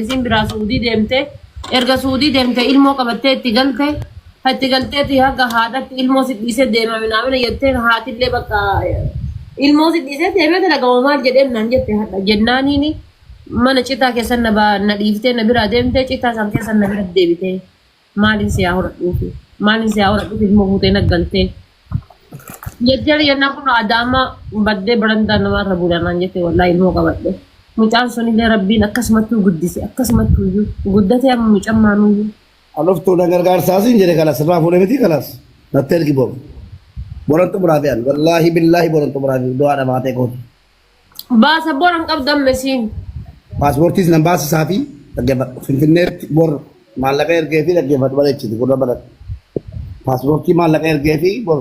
Isiin biraa su'udii deemte erga su'udii deemte ilmoo qabattee itti galte ha itti galteeti haga haadhatti ilmoo si dhiisee deema minaamina jettee haatillee bakka ilmoo si dhiisee deemee dalagama maal jedheem naan jette hadha jennaaniini mana citaa keessan na ba- na dhiiftee na biraa deemtee citaa san keessan na bira deebitee. Maaliin si haa horadhuufi? Maaliin si haa horadhuufi ilmoo fuutee na galtee? Jettee jennaan kun adaama baddee barandaa namaa irra bulanaan jettee wallaahi ilmoo qabadhe. Mucaan sunillee rabbiin akkasumattuu guddise akkasumattuu iyyuu guddatee amma mucaan maanuyyuu. Aloftuu na gargaarsaa siin jedhe kalas irraa fuudhe miti kalas natti ergi bor. Boran xumuraafiyaan wallaahi billaahi boran xumuraafiyaan du'aa dhamaatee kooti. Baasa bor hin qabdu amma isiin. Paaspoortiis nan baasisaa fi dhaggeeffadhu. Finfinneetti bor maallaqa ergee fi dhaggeeffadhu bareechiti gurra baradhu. Paaspoortii maallaqa ergee fi bor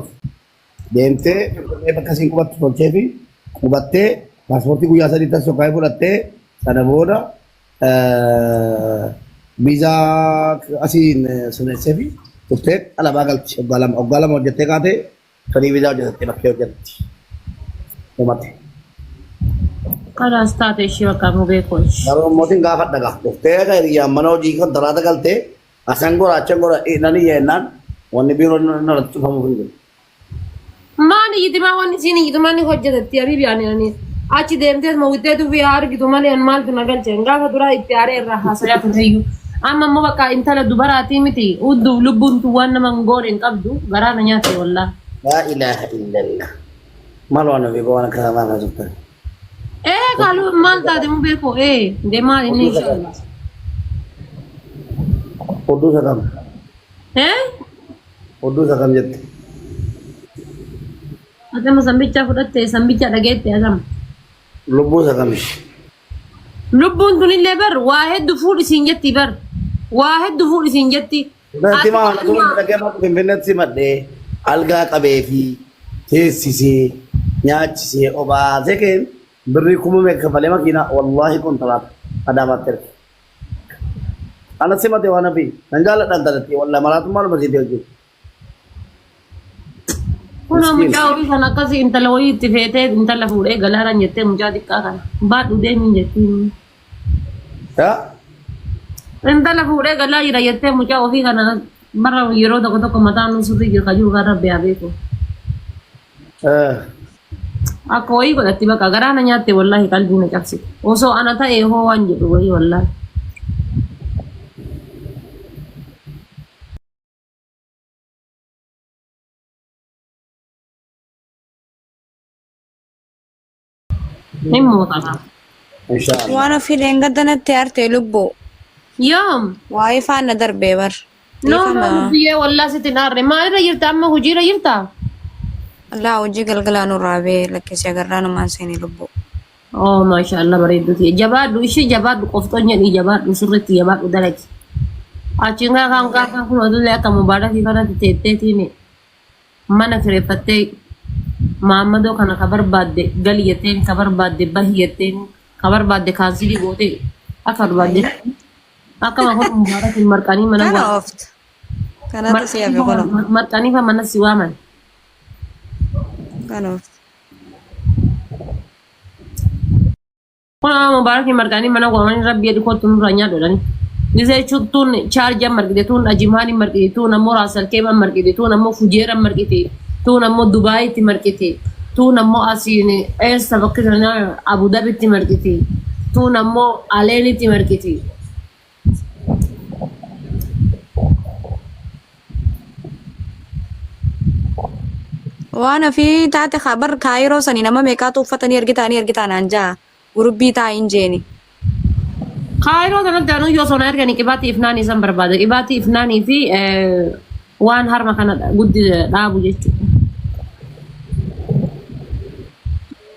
deemtee Finfinnee bakka isiin qubattu tolchee fi qubattee paaspoortii guyyaa sadii tas sokkaa'ee fudhattee sana booda eh, viizaa asiin eh, sirreessee fi turtee alabaa galti. Waggaa lama waggaa lama hojjettee kaatee Fadii vizaa hojjetatte bakkee hojjetti. Dhumate. Kalaas taate ishii bakka mubee koosh. Garuu mootiin gaafa dhagaa dhuftee akka hiriyyaan mana hojii kan talaata galtee asan goraacha gora nan iyya jennaan wanni biiroo narratti cufamuuf hin jiru. Maani yitimaa wanni isiin yitimaa ni hojjetatti habiibi ani ani. Achi deemtees ma wittee tufii haa argitu malee an maaltu na galcheen gaafa duraa itti aaree irraa haasayaa turreyyuu. Amma immoo bakka intala dubaraatii miti udduuf lubbuun tun waan nama hin goone hin qabdu garaa na nyaatte wallaah. Laa ilaaha illallah maloo ana beekoo waan akkanaa maaf haasoftan. Ee kaalu maal taate mubee koo ee demaa inni Oduu sakam. inshaallah. Oduu sakam. Ee Oduu sakam jette. Agama sammicha fudhatte sammicha dhageette agama. Lubbuun sagamish. Lubbuun tunillee bar waa heddu fuudhi siin jetti bar. Waa heddu fuudhi siin jetti. Natti maa Ati tuma amma- dhagee bakka finfinneetti simadhee algaa qabee fi teessisee nyaachisee obaasee keen birrii kuma meeqa kafalee makiinaa wallaahi kontiraata adaamaatti erge. Ana simate waan hafi nan jaalladha intalattii wallaahi maraatummaa lama siitee hojjetu. Kunoo Miskiin. mucaa horii kan akkasii intala wayii itti feetee intala fuudhee galaaraan jettee mucaa xiqqaa kana. Baadhu deemiin jettiin. Yaa Intala fuudhee galaa jira jettee mucaa ofii kana bara yeroo tokko tokko mataa nuu sirrii jira kan jiru kan rabbi haa beeku. eh, Akka wayii godhatti bakka garaa na nyaatte wallaahi qalbii na cabse. Osoo ana ta'e hoo waan jedhu wayii wallaahi. Hin muuxata. Inshallah. Waan ofii dheengadda natti aarte lubbuu. Yoom? Waa'ee faana darbee bar. No, no, biyyee wallaa sitti hin aarre. Maalirra jirta amma hojiirra jirta? Allaa hojii galgalaa nurraa bee lakkisee agarraa numaan seenee lubbuu. Oh maashaallah bareedduu tiyya. Jabaadhu ishee jabaadhu qofxoon jedhii jabaadhu sirriitti jabaadhu dalagi. Achiin gaa kan gaa kan kun otullee akka mubaarakii kanatti teetteetiin mana kireeffattee maammadoo kana ka barbaadde gali jetteen ka barbaadde bahi jetteen ka barbaadde kaansilii gootee akka barbaadde akkama kun mubaarakiin marqanii mana Kana waa oofta. Kanatu si hafe kunoo. marqanii fa mana si waaman. Kana oofta. Kun amma mubaarakiin marqaanii mana waamanii rabbi jedhi kottu nurraa nyaadhu jedhani. Gisee chuttuun chaarjii an marqite tuun ajimaan hin marqiti tuun ammoo raasalkeem an marqiti tuun ammoo fujeer an marqiti tuun ammoo dubaayitti marqiti tuun ammoo asiin eessa bakki sana abudabitti marqiti tuun ammoo aleenitti marqiti. Waan ofii taate haa bar kaayiroo sani nama meeqaatu uffatanii ergitaanii ergitaan aan jaa gurubbii taa hin jeeni. Kaayiroo sanatti anuu yoo sonaa ergani qibaatii ifnaanii isan barbaada. Qibaatii ifnaanii fi eh, waan harma kana guddi dhaabu jechuudha.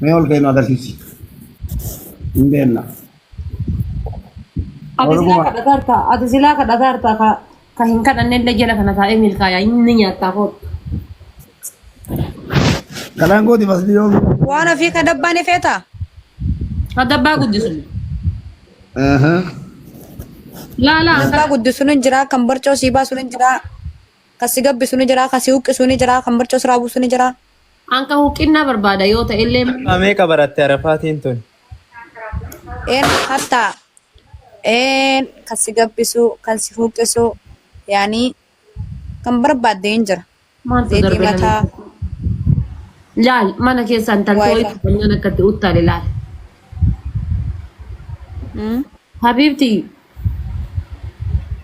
Mee ol ka'ee nu agarsiisi. Hin beekna. Ati silaa Oromuma. kadhataa jirta. Ati silaa kadhataa jirta. Ka, ka hin kadhanne illee jala kana taa'ee milkaa'aa inni nyaattaa kootu. Kanaan gooti masli yoo. Waan ofii ka dabbaan ifeeta. Kadabbaa guddisu. Aha. Laa laa Dabbaa akka guddisu ni jira, kan barcoo sii baasu ni jira, kan si gabbisu ni jira, kan si huqqisu ni jira, kan barcoo siraa buusu ni jira. Anka huqqinnaa barbaada yoo ta'ellee immoo. Har'aa meeqa baratte arafaatiin tun? Een hatta een kan si gabbisu kan si huqqisu yaani kan barbaadde hin jira. Maaltu Deetii darbe namni? mataa Laal mana keessa intalti Wifi. wayii qabanyaan akka itti uttaale laal. mm, Habiibti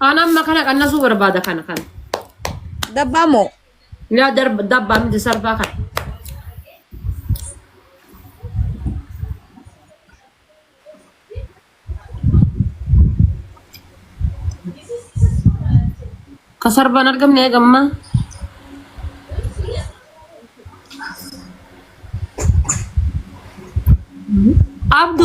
Ana amma kana qannasuu barbaada kana kana. Dabbaa moo? Yaa darba dabbaa miti sarbaa kana. Ka sarbaan argamne eegamma. Abdu